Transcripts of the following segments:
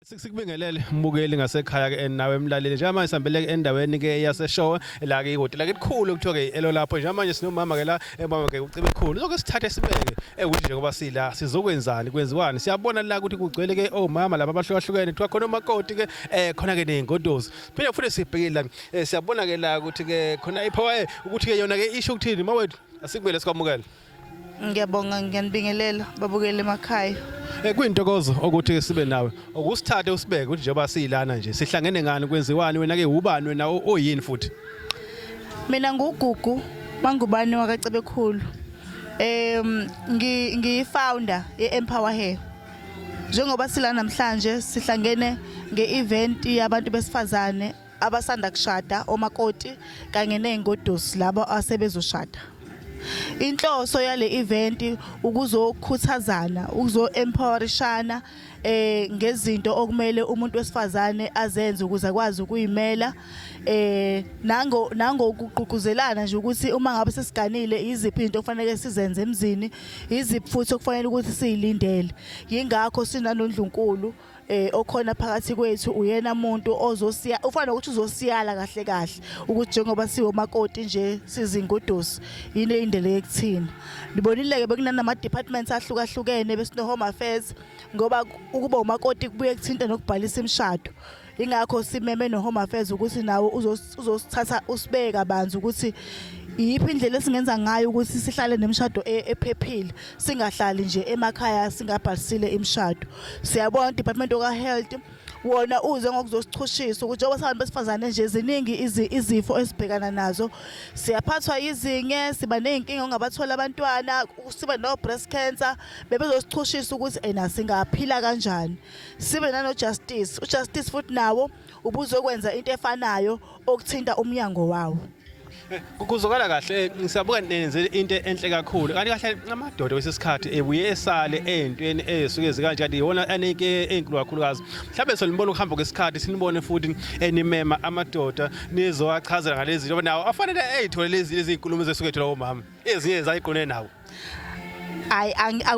Sikubingelele mbukeli ngasekhaya ke nawe emlaleli njengamanje sihambele ke endaweni ke yaseshowe la ke ihotela ke likhulu kuthiwa ke elo lapho njengamanje sinomama ke la emama ke ucebe khulu lokho sithathe sibeke ekuthi nje ngoba sila sizokwenzani kwenziwani siyabona la ukuthi kugcwele ke omama laba abahlukahlukene kuthiwa khona umakoti ke eh khona ke nezingodozi phinde futhi sibhekile la eh, siyabona ke la ukuthi ke khona ipower eh, ukuthi ke yona ke isho ukuthini mawethu asikumele sikwamukele Ngiyabonga ngiyanibingelela babukele emakhaya. Eh, kuyintokozo ukuthi sibe nawe ukusithathe usibeke ukuthi njengoba siyilana nje sihlangene ngani kwenziwani wena ke ubani wena oyini futhi mina ngugugu mangubani wakacebekhulu um ngiyifounder ye-empower hair njengoba sila namhlanje sihlangene nge-event yabantu besifazane abasanda kushada omakoti kanye nezingodusi labo asebezoshada inhloso yale event ukuzokhuthazana ukuzoempowerishana eh ngezinto okumele umuntu wesifazane azenze ukuze akwazi ukuyimela eh nango nangokugqugquzelana nje ukuthi uma ngabe sesiganile iziphi into okufanele sizenze emzini iziphi futhi okufanele ukuthi siyilindele yingakho sinanondlunkulu eh okhona phakathi kwethu uyena muntu ozosiya ufana ukuthi uzosiyala kahle kahle ukuthi njengoba siwo makoti nje sizingudusi yini indlela yekuthina libonile ke bekunanama departments ahlukahlukene besino home affairs ngoba ukuba umakoti kubuye kuthinta nokubhalisa imishado ingakho simeme no home affairs ukuthi nawo uzo uzosithatha usibeke kabanzi ukuthi iyiphi indlela esingenza ngayo ukuthi sihlale nemishado e, ephephile singahlali nje emakhaya singabhalisile imishado siyabona department of health wona uze ngokuzosichushisa ukuthi njengoba sabantu besifazane nje ziningi izifo esibhekana nazo siyaphathwa yizinge siba ney'nkinga ongabathola abantwana sibe no-breast cancer bebezosichushisa ukuthi ena singaphila kanjani sibe nanojustice ujustice futhi nawo ubuzokwenza into efanayo okuthinta umnyango wawo kuzokala kahle ngisabuka nenze into enhle kakhulu kanti kahle amadoda wesesikhathi ebuye esale ezintweni esuke zikanje kanti yona aneke ezinkulu kakhulukazi mhlawumbe solibona ukuhamba kwesikhathi sinibone futhi enimema amadoda nizowachazela ngalezi njengoba nawo afanele ezithole lezi izinkulumo zesuke ethola omama ezinye zayiqone nawo hayi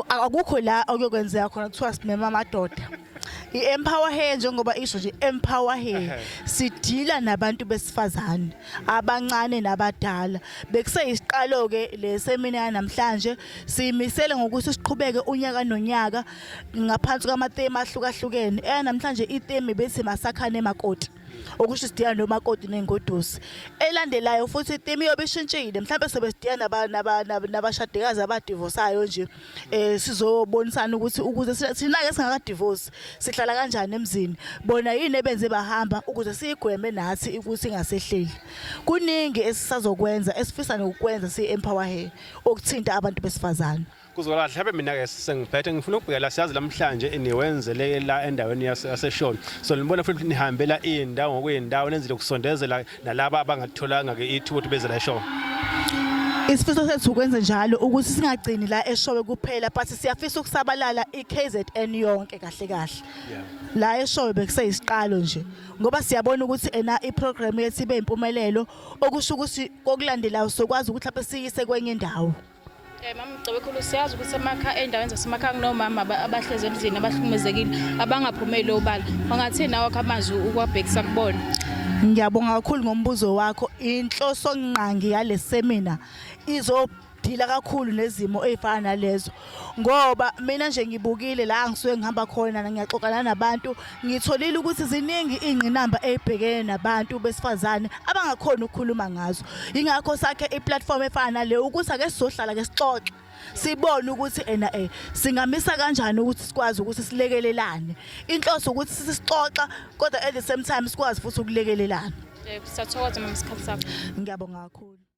akukho la okuyokwenzeka khona kuthiwa simema amadoda i-empower hair njengoba isho nje empower hair sidila nabantu besifazane abancane nabadala bekuseyisiqalo ke le semina yanamhlanje siyimisele ngokuthi siqhubeke unyaka nonyaka ngaphansi kwamatheme ahlukahlukene eyanamhlanje itheme bethi masakhane makoti okusho isidiyana nomakoti nengodusi elandelayo futhi itimi yobe ishintshile mhlawumbe sobe sidiyana nabashadikazi abadivosayo nje um sizobonisana ukuthi ukuze thina-ke singakadivosi sihlala kanjani emzini bona yini ebenze bahamba ukuze siyigweme nathi ukuthi ingasehleli kuningi esisazokwenza esifisa nokukwenza siyi-empower hair okuthinta abantu besifazane kuzwakala mhlawumbe mina-ke sengiphethe ngifuna ukubhekela siyazi namhlanje niwenzele la endaweni yaseshoni so nibona futhi nihambela iy'ndawo ngokuyindawo nenzile ukusondezela nalaba abangatholanga-ke ithuba ukuthi beze la eshoni isifiso sethu ukwenze njalo ukuthi singagcini la eshowe kuphela but siyafisa ukusabalala i-KZN yonke kahle kahle la eshowe bekuseyisiqalo nje ngoba siyabona ukuthi ena i-program yethu ibe impumelelo okusho ukuthi kokulandelayo sokwazi ukuthi lapho siyise kwenye indawo Eh, mama Mgcebekhulu siyazi ukuthi emakha endaweni zasemakhaya kunomama abahlezi emzini abahlukumezekile abangaphumeli obala ungathini nawo amazwi ukwabhekisa kubona ngiyabonga kakhulu ngombuzo wakho inhloso ngqangi yale semina izo ngidila kakhulu nezimo ezifana nalezo ngoba mina nje ngibukile la ngisuke ngihamba khona ngiyaxoxana nabantu Ngitholile ukuthi ziningi iy'ngqinamba ey'bhekene nabantu besifazane abangakhoni ukukhuluma ngazo. Yingakho sakhe i-platform efana nale ukuthi ake sizohlala ke sixoxe. Sibone ukuthi ena eh singamisa kanjani ukuthi sikwazi ukuthi silekelelane. Inhloso ukuthi sisixoxa kodwa at the same time sikwazi futhi ukulekelelana. Yebo, siyathokoza mama isikhathi sakho. Ngiyabonga kakhulu.